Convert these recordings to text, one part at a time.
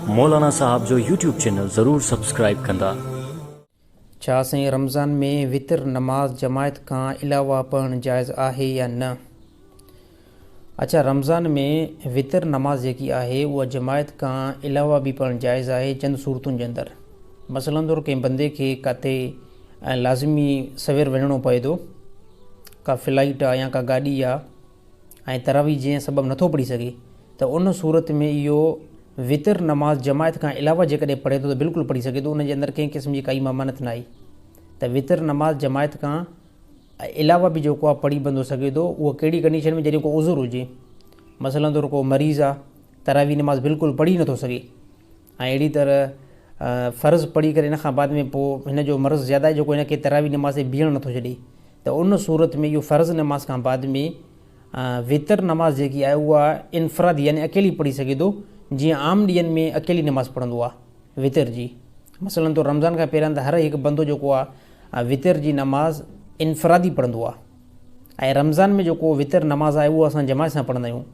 مولانا صاحب جو YouTube channel ضرور سبسڪرائب ڪندا. ڇا سائين رمضان ۾ وتر نماز جماعت کان علاوه پڙهڻ جائز آهي يا نه؟ اچا رمضان ۾ وتر نماز جيڪي آهي اها جماعت کان علاوه به پڙهڻ جائز آهي چند صورتن جي اندر مثلا طور ڪنهن بندي کي ڪاٿي لازمي سوير وڃڻو پوي ٿو ڪا فلائيٽ آ يا ڪا گاڏي آ ۽ تراويح جنهن سبب نٿو پڙهي سگهي ته ان صورت ۾ اهو وتر نماز جماعت کان علاوه جيڪڏهن پڙهي ٿو ته بلڪل پڙهي سگهي ٿو ان جي اندر ڪنهن قسم جي ڪائي ممانعت ناهي ته وتر نماز جماعت کان علاوه به جيڪو آهي پڙهي بندو سگهي ٿو اهو ڪهڙي ڪنڊيشن ۾ جڏهن ڪو عذر هجي مثلا طور ڪو مريض آهي تراويح نماز بلڪل پڙهي نٿو سگهي ۽ اهڙي طرح فرض پڙهي ڪري ان کان بعد ۾ پوء هن جو مرض زياده آهي جو ڪو هن کي تراويح نماز تي بيهڻ نٿو ڇڏي ته ان صورت ۾ اهو فرض نماز کان بعد ۾ وتر نماز جيڪي آهي اها انفرادي يعني اڪيلي پڙهي سگهي ٿو جيئن عام ڏينهن ۾ اڪيلي نماز پڙهندو آهي وتر جي مثلا طور رمضان کان پهريان ته هر هڪ بندو جيڪو آهي وتر جي نماز انفرادي پڙهندو آهي ۽ رمضان ۾ جيڪو وتر نماز آهي اهو اسان جماعت سان پڙهندا آهيون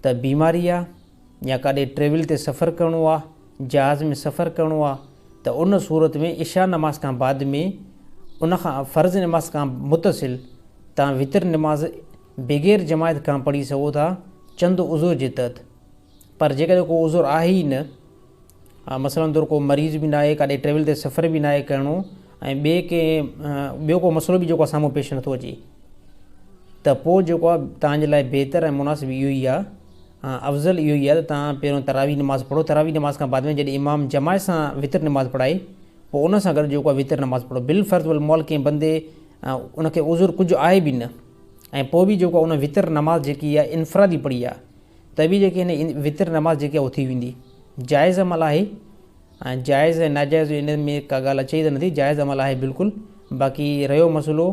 ته بيماري آهي يا ڪاڏي ٽريول تي سفر ڪرڻو آ، جهاز ۾ سفر ڪرڻو آ ته ان صورت ۾ عشاء نماز کان بعد ۾ ان کان فرض نماز کان متصل توهان وتر نماز بغير جماعت کان پڙهي سگهو ٿا چند عذر جي تحت پر جيڪڏهن ڪو عذر آهي ئي نه مثلاً طور ڪو مريض به ناهي، ڪاڏي ٽريول تي سفر به ناهي ڪرڻو ۽ ٻئي ڪنهن ٻيو ڪو مسئلو به جيڪو سامهون پيش نٿو اچي ته پوء جيڪو آهي تهان جي لاء بهتر ۽ مناسب اهو ئي آهي افضل اهو ئي آهي ته تهان پهريون تراويح نماز پڙهو تراويح نماز کان بعد ۾ جڏهن امام جماعت سان وتر نماز پڙهائي پوء ان سان گڏ جيڪو آهي وتر نماز پڙهو بالفرض والمحال ڪنهن بندي ان کي عذر ڪجهه آهي به نه ۽ پوء به جيڪو آهي ان وتر نماز جيڪي آهي انفرادي پڙهي آهي ته به جيڪي هن وتر نماز جيڪي اٿي ويندي جائز عمل آهي ۽ جائز ۽ ناجائز ان ۾ ڪا ڳالهه اچي ئي ته نٿي جائز عمل آهي بلڪل باقي رهيو مسئلو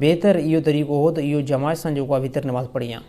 بهتر اهو طريقو هو ته اهو جماعت سان جيڪو آهي وتر نماز پڙهيان.